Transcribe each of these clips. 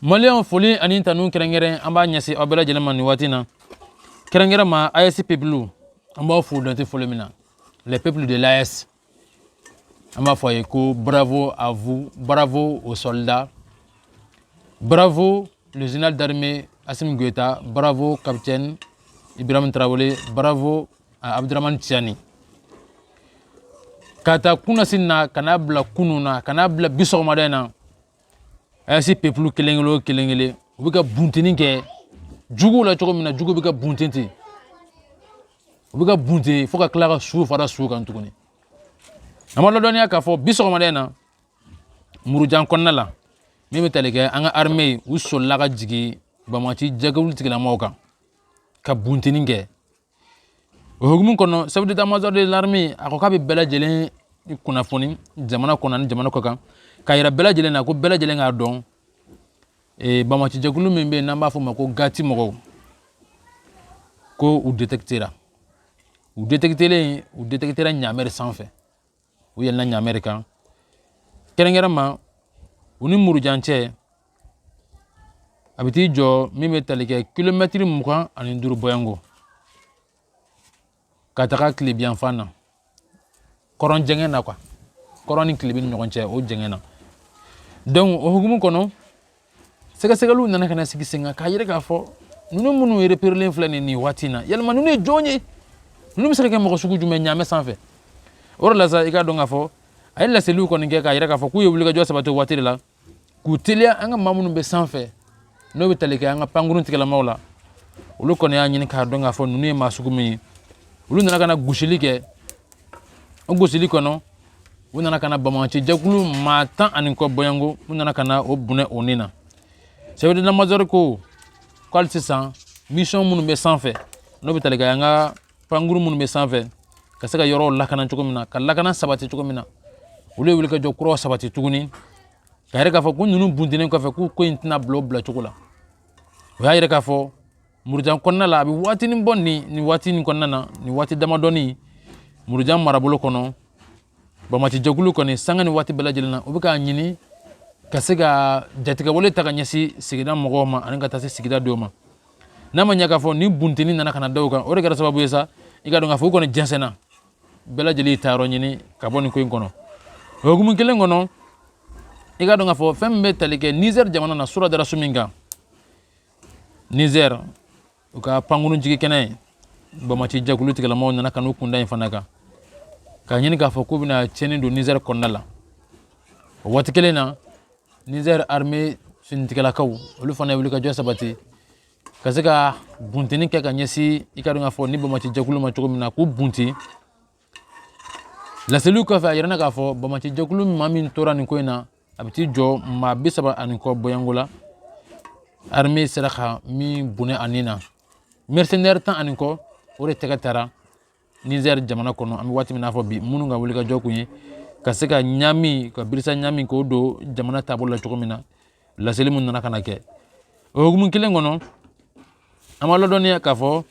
maliyɛnw foli ani tanu kɛrɛnkɛrɛn an b'a ɲɛsin aw bɛɛ lajɛlen ma nin waati na kɛrɛnkɛrɛn ma aes peuple an b'aw fo dante foli min na les peuples de l'aes an b'a fɔ aw ye ko bravo à vous bravo aux soldats bravo le général d'armée assimi goïta bravo capitaine ibrahim tarawele bravo à abdourahamane tiani ka taa kunasini na ka n'a bila kunu na ka n'a bila bi sɔgɔmada in na aes peuple kelen kelen o kelen kelen u bɛ ka bunteni kɛ juguw la cogo min na jugu bɛ ka bunte ten u bɛ ka bunte fo ka tila ka su fara su kan tuguni an b'aw ladɔnniya k'a fɔ bi sɔgɔmada in na murujan kɔnɔna la min bɛ tali kɛ an ka arime u solila ka jigin banbaanci jɛkulu tigilamɔgɔw kan ka bunteni kɛ o hukumu kɔnɔ chef d'état major de l'armée a ko k'a bɛ bɛɛ lajɛlen kunnafoni jamana kɔnɔ ani jamana kɔkan k'a yira bɛɛ lajɛlen na ko bɛɛ lajɛlen k'a dɔn eh, banbaanci jɛkulu min bɛ yen n'an b'a fɔ o ma ko gati mɔgɔw ko u détectera u détectelen u détectera ɲaamɛ de sanfɛ u yɛlɛna ɲaamɛ de kan kɛrɛnkɛrɛn ma u ni murujan cɛ a bɛ t'i jɔ min bɛ tali kɛ kilomɛtiri mugan ani duuru bɔɲɔgɔnko ka taga tilebinyanfan na kɔrɔn jɛngɛn na quoi kɔrɔn ni tilebin ni ɲɔgɔn cɛ o jɛngɛn na donc o hukumu kɔnɔ sɛgɛsɛgɛliw nana ka na sigi sen kan k'a yira k'a fɔ ninnu minnu repérélen filɛ nin nin waati in na yalima ninnu ye jɔn ye ninnu bɛ se ka kɛ mɔgɔ sugu jumɛn ɲaamɛ sanfɛ o de la sa i k'a dɔn k'a fɔ a ye laseliw kɔni kɛ k'a yira k'a fɔ k'u ye wulikajɔ sabati o waati de la k'u teliya an ka maa minnu bɛ sanfɛ n'o bɛ tali kɛ an ka pankurun tigilamaaw la olu kɔni y'a ɲini k'a dɔn k'a fɔ ninnu ye maa sugu min ye olu nana ka na gosili kɛ o gosili kɔnɔ u nana ka na banbaanci jɛkulu maa tan ani kɔ bɔɲɔgɔnko u nana ka na u bɔnɛ u ni na chef d'état major ko ko hali sisan misiyɔn minnu bɛ sanfɛ n'o bɛ tali kɛ an ka pankuru minnu bɛ sanfɛ ka se ka yɔrɔw lakana cogo min na ka lakana sabati cogo min na olu ye wulikajɔ kuraw sabati tuguni k'a yira k'a fɔ ko ninnu buntennen kɔfɛ k'u ko in tɛna bila o bilacogo la o y'a yira k'a fɔ murujan kɔnɔna la a bɛ waatinin bɔ nin nin waati nin kɔnɔna na nin waati damadɔnin murujan marabolo kɔnɔ banbaanci jɛkulu kɔni sanga ni waati bɛɛ lajɛlen na u bɛ k'a ɲini ka se ka jatigɛwale ta ka ɲɛsin sigida mɔgɔw ma ani ka taa se sigida dɔw ma n'a ma ɲɛ k'a fɔ ni bunteni nana ka na da o kan o de kɛra sababu ye sa i k'a dɔn k'a fɔ u kɔni jɛnsɛnna bɛɛ lajɛlen y'i taayɔrɔ ɲini ka bɔ nin ko in kɔnɔ o hukumu kelen kɔnɔ i k'a dɔn k'a fɔ fɛn min bɛ tali kɛ nizɛri jamana na surɔ dara su min kan Niger u ka pankurun jigin kɛnɛ banbaanci jɛkulu tigilamaw nana ka n'u kun da yen fana kan k'a ɲini k'a fɔ k'u bɛna cɛnni don Niger kɔnɔna la o waati kelen na Niger armée finitigilakaw olu fana ye wulikajɔ sabati ka se ka buntenni kɛ ka ɲɛsin i k'a dɔn k'a fɔ nin banbaanci jɛkulu ma cogo min na k'u bunti laseliw kɔfɛ a yirana k'a fɔ banbaanci jɛkulu maa min tora nin ko in na a bɛ t'i jɔ maa bi saba ani kɔ bɔɲɔgɔnko la armée sera ka min bɔnɛ a ni na mercenaire tan ani kɔ o de tɛgɛ tara Niger jamana kɔnɔ an bɛ waati min na fɔ bi minnu ka wulikajɔ kun ye ka se ka ɲami ka birisa ɲami k'o don jamana taabolo la cogo min na laseli min nana ka na kɛ o hukumu kelen kɔnɔ an b'a ladɔnniya k'a fɔ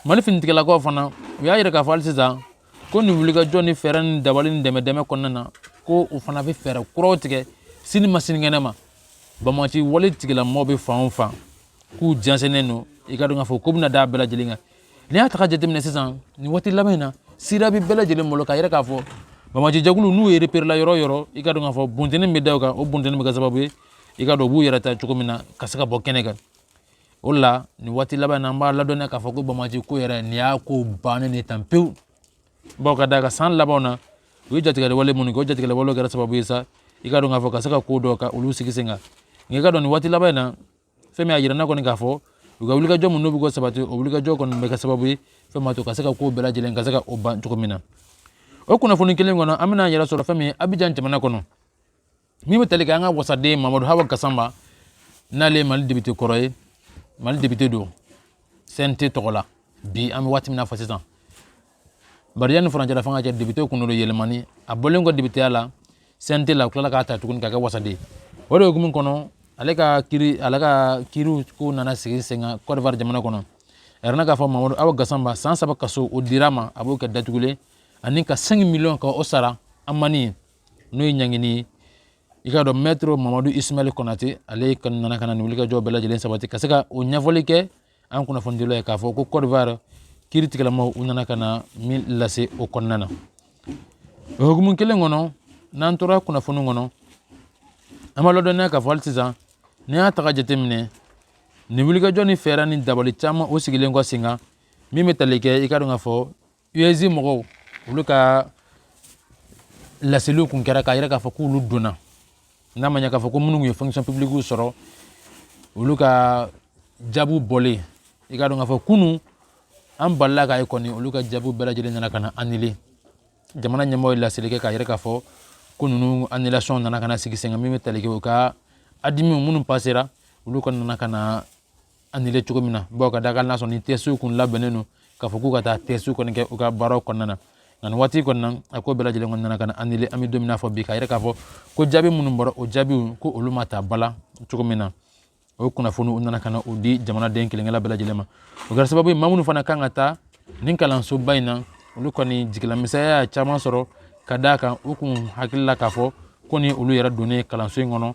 mali finitigilakaw fana u y'a yira k'a fɔ hali sisan ko nin wulikajɔ ni fɛɛrɛ ni dabali ni dɛmɛ dɛmɛ kɔnɔna na ko u fana bɛ fɛɛrɛ kuraw tigɛ sini ma sinikɛnɛ ma banbaanci wale tigilamɔgɔw bɛ fan o fan k'u jɛnsɛnnen don i k'a dɔn k'a fɔ ko bɛna d'a bɛɛ lajɛlen kan n'i y'a ta k'a jateminɛ sisan nin waati laban in na sira bɛ bɛɛ lajɛlen bolo k'a yira k'a fɔ banbaanci jɛkulu n'u ye reperela yɔrɔ yɔrɔ i k'a dɔn k'a fɔ buntenni bɛ da o kan o buntenni bɛ kɛ sababu ye i k'a dɔn u b'u yɛrɛ ta cogo min na ka se ka bɔ kɛnɛ kan o de la nin waati laban na an b'a ladɔnniya k'a fɔ ko banbaanci ko yɛrɛ nin y'a ko bannen de tan pewu bawo ka d'a kan san labanw na u ye jatigɛli wale minnu kɛ o jatigɛli walew kɛra sababu ye sa i k'a dɔn k'a fɔ ka se ka ko dɔ ka olu sigi sen kan nka i k'a dɔn nin waati laban in na fɛn min y'a jira ne kɔni k'a fɔ u ka wulikajɔ minnu bɛ k'o sabati o wulikajɔ kɔni bɛ kɛ sababu ye fɛn ma to ka se ka ko bɛɛ lajɛlen ka se ka o ban cogo min na o kunnafoni kelen kɔnɔ an bɛna an yɛrɛ sɔrɔ fɛn min ye Abidjan jamana kɔnɔ min bɛ tali kɛ an ka wasaden mamadu hawa gasama n'ale ye mali député kɔrɔ ye mali député don cnt tɔgɔ la bi an bɛ waati min na fɔ sisan bari yanni furancɛla fanga cɛ député tun don yɛlɛmani a bɔlen kɔ députéya la cnt la u tilala k'a ta tuguni ka kɛ wasaden o de hukumu kɔnɔ ale ka kiri ale ka kiriw ko nana sigi sen kan Côte d'Ivoire jamana kɔnɔ a yirana k'a fɔ mamadu hawa gasama san saba kaso o dira ma a b'o kɛ datugulen ani ka 5 miliyɔn ka o sara amani ye n'o ye ɲangini ye i k'a dɔn maître mamadu ismail konate ale ka nana ka na nin wulikajɔ bɛɛ lajɛlen sabati ka se ka o ɲɛfɔli kɛ an kunnafonidilaw ye k'a fɔ ko Côte d'Ivoire kiri tigilamaw u nana ka na min lase o kɔnɔna na o hukumu kelen kɔnɔ n'an tora kunnafoni kɔnɔ an b'a ladɔnniya k'a fɔ hali sisan n'i y'a ta k'a jateminɛ nin wulikajɔ ni fɛɛrɛ ni dabali caman o sigilen kɔ sen kan min bɛ tali kɛ i k'a dɔn k'a fɔ US mɔgɔw olu ka laseliw kun kɛra k'a yira k'a fɔ k'olu donna n'a ma ɲɛ k'a fɔ ko minnu ye fonction publique sɔrɔ olu ka jaabiw bɔlen i k'a dɔn k'a fɔ kunu an balila k'a ye kɔni olu ka jaabiw bɛɛ lajɛlen nana ka na annulé jamana ɲɛmɔgɔ ye laseli kɛ k'a yira k'a fɔ ko ninnu annulation nana ka na sigi sen kan min bɛ tali kɛ u ka adimiw minnu passera olu kɔni nana ka na annulé cogo min na bawo ka d'a kan n'a sɔrɔ ni tɛsiw kun labɛnnen don k'a fɔ k'u ka taa tɛsiw kɔni kɛ u ka baaraw kɔnɔna na nka nin waati kɔni na a ko bɛɛ lajɛlen kɔni nana ka na annulé an bɛ don min na fɔ bi k'a yira k'a fɔ ko jaabi minnu bɔra o jaabiw ko olu ma ta ba la cogo min na o kunnafoni u nana ka na o di jamanaden kelenkelenna bɛɛ lajɛlen ma o kɛra sababu ye maa minnu fana kan ka taa nin kalansoba in na olu kɔni jigilamisɛnya y'a caman sɔrɔ ka d'a kan u kun hakili la k'a fɔ ko ni olu yɛrɛ donnen kalanso in kɔnɔ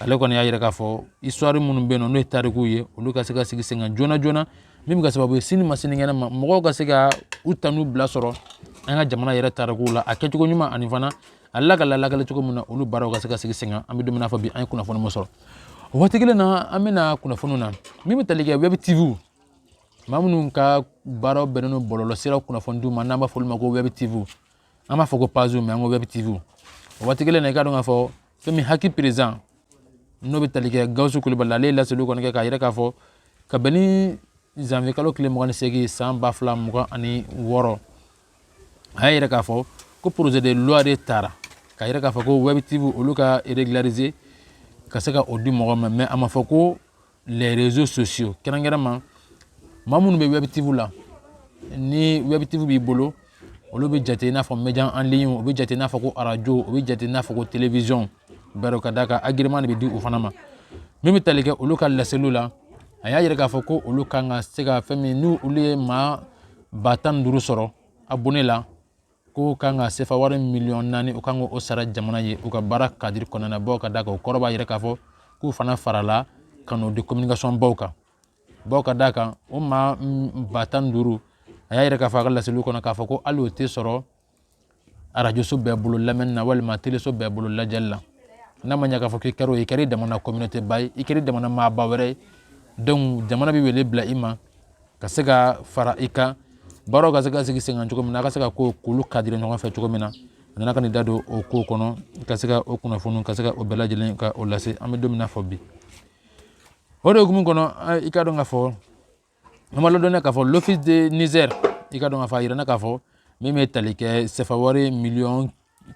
ale kɔni y'a yira k'a fɔ histoire minnu bɛ yen nɔ n'o ye tarikuw ye olu ka se ka sigi sen kan joona joona min bɛ kɛ sababu ye sini ma sinikɛnɛ ma mɔgɔw ka se ka u tanu bila sɔrɔ an ka jamana yɛrɛ tarikuw la a kɛcogo ɲuman ani fana a lakali cogo min na olu baaraw ka se ka sigi sen kan an bɛ don min na fɔ bi an ye kunnafoni min sɔrɔ o waati kelen na an bɛ na kunnafoniw na min bɛ tali kɛ web tv maa minnu ka baaraw bɛnnen don bɔlɔlɔsiraw kunnafoni di ma n'an b'a fɔ olu ma ko web tv an b'a fɔ ko pages mais an ko web tv o waati kelen na i ka dɔn k'a fɔ fɛn min HAC président n'o bɛ tali kɛ gawusu kulubali ale ye laseliw kɔni kɛ k'a yira k'a fɔ ka bɛn ni zanviye kalo tile mugan ni segin san ba fila mugan ani wɔɔrɔ a y'a yira k'a fɔ ko projet de loi de tara k'a yira k'a fɔ ko web tv olu ka régulariser ka se ka o di mɔgɔ ma mais a ma fɔ ko les réseaux sociaux kɛrɛnkɛrɛnma maa minnu bɛ web tv la ni web tv b'i bolo olu bɛ jate i n'a fɔ média en ligne o bɛ jate i n'a fɔ ko arajo o bɛ jate i n'a fɔ ko télévision bawo ka d'a kan agrément de bɛ di o fana ma min bɛ tali kɛ olu ka laseliw la a y'a yira k'a fɔ ko olu kan ka se ka fɛn min n'u olu ye maa ba tan ni duuru sɔrɔ abonné la k'u kan ka sefa wari miliyɔn naani u kan k'o sara jamana ye u ka baara kadiri kɔnɔna na bawo ka d'a kan o kɔrɔ b'a yira k'a fɔ k'u fana farala ka n'o di communication baw kan bawo ka d'a kan o maa ba tan ni duuru a y'a yira k'a fɔ a ka laseliw kɔnɔ k'a fɔ ko hali o tɛ sɔrɔ arajoso bɛɛ bolo lamɛnni na walima teleso bɛɛ bolo lajɛli la n'a ma ɲɛ k'a fɔ k'i kɛra o ye i kɛra i damana communauté ba ye i kɛra i damana maaba wɛrɛ ye donc jamana bɛ wele bila i ma ka se ka fara i kan baaraw ka se ka sigi sen kan cogo min na a ka se ka ko k'olu kadiri ɲɔgɔn fɛ cogo min na a nana ka n'i da don o ko kɔnɔ ka se ka o kunnafoniw ka se ka o bɛɛ lajɛlen ka o lase an bɛ don min na fɔ bi o de hukumu kɔnɔ i ka dɔn k'a fɔ an b'a ladɔnniya k'a fɔ l'office de niger i ka dɔn k'a fɔ a yirana k'a fɔ min bɛ tali kɛ sefa wari miliyɔn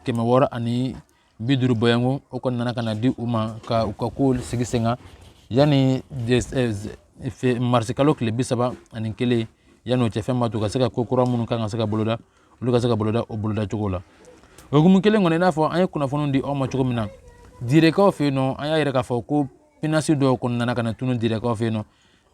kɛmɛ wɔɔrɔ ani bi duuru bɔɲɔgɔnko o kɔni nana ka na di u ma ka u ka kow sigi sen kan yanni marisi kalo tile bi saba ani kelen yanni o cɛ fɛn b'a to ka se ka ko kura minnu kan ka se ka boloda olu ka se ka boloda o boloda cogo la o hukumu kelen kɔnɔ i n'a fɔ an ye kunnafoniw di aw ma cogo min na direkaw fɛ yen nɔ an y'a yira k'a fɔ ko pinasi dɔw kɔni nana ka na tunu direkaw fɛ yen nɔ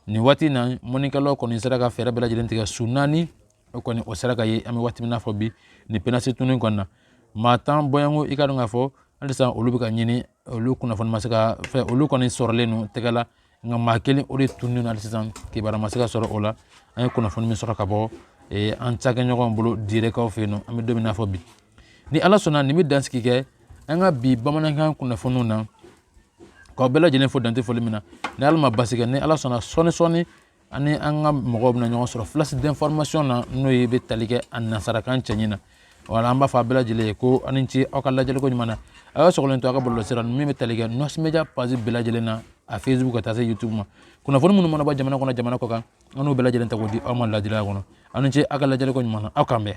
nin waati in na mɔnikɛlaw kɔni sera ka fɛɛrɛ bɛɛ lajɛlen tigɛ su naani o kɔni o sera ka ye an bɛ waati min n'a fɔ bi nin pinasi tununi kɔnɔ na maa tan bɔɲɔgɔnko i k'a dɔn k'a fɔ halisa olu bɛ ka ɲini olu kunnafoni ma se ka fɛ olu kɔni sɔrɔlen don tɛgɛ la nka maa kelen o de tunnen don hali sisan kibaruya ma se ka sɔrɔ o la an ye kunnafoni min sɔrɔ ka bɔ an cakɛɲɔgɔn bolo direkaw fɛ yen nɔ an bɛ don min n'a fɔ bi ni ala sɔnna nin bɛ dansigi kɛ an ka bi bamanankan kunnafoniw na k'aw bɛɛ lajɛlen fo dan tɛ foli min na ni ala ma basi kɛ ni ala sɔnna sɔɔni sɔɔni ani an ka mɔgɔw bɛna ɲɔgɔn sɔrɔ flash d'information na n'o ye bɛ tali kɛ a nansarakan cɛɲi na wala an b'a fɔ aw bɛɛ lajɛlen ye ko aw ni ce aw ka lajɛliko ɲuman na a y'aw sɔgɔlen to an ka bɔlɔlɔsira min bɛ tali kɛ nɔsi media page bɛɛ lajɛlen na a facebook ka taa se youtube ma kunnafoni minnu mana bɔ jamana kɔnɔ jamana kɔkan an n'u bɛɛ lajɛlen ta k'o di aw ma ladiriya kɔnɔ aw ni ce aw ka lajɛliko ɲuman na aw k'an bɛn